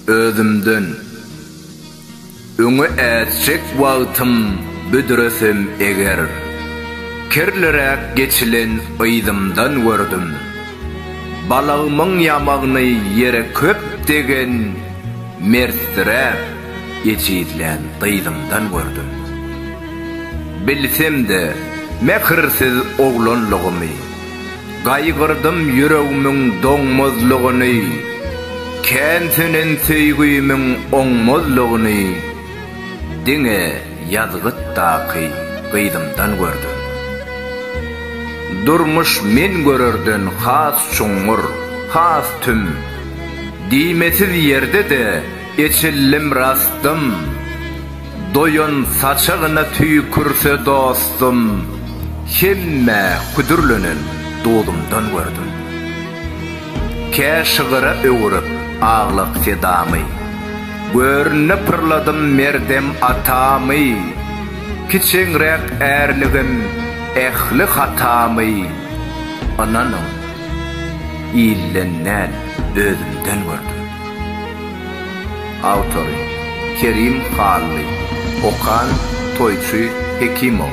Özümden öňe ätjek wagtym büdresem eger, kirliräk geçilen yzymdan gördüm. Balagymyň ýamagyny ýere köp degen mertdiräk ejizlän gyzymdan gördüm. Bilsem-de, mähirsiz oglanlygymy. Gaýgyrdym ýüregimiň doňmazlygyny, Kän sönen söýgimiň oňmazlygyny Diňe ýazgytdaky gyzymdan gördüm. Durmuş men görerden has çuňňur, has tüm, Diýmesiz ýerde-de Eçildim rastym, doýan saçagyna tüýkürse dostum, Hemmä küdürlenen duzumdan gördüm. Kä şygyra öwürip aglak sedamy, Görnüne pyrladym merdem atamy, Kiçeňräk ärligim, ähli hatamy, Ynanyň, ilden däl, özümden gördüm. Awtory, Kerim Hally. Okan, Toýçy Hekimow.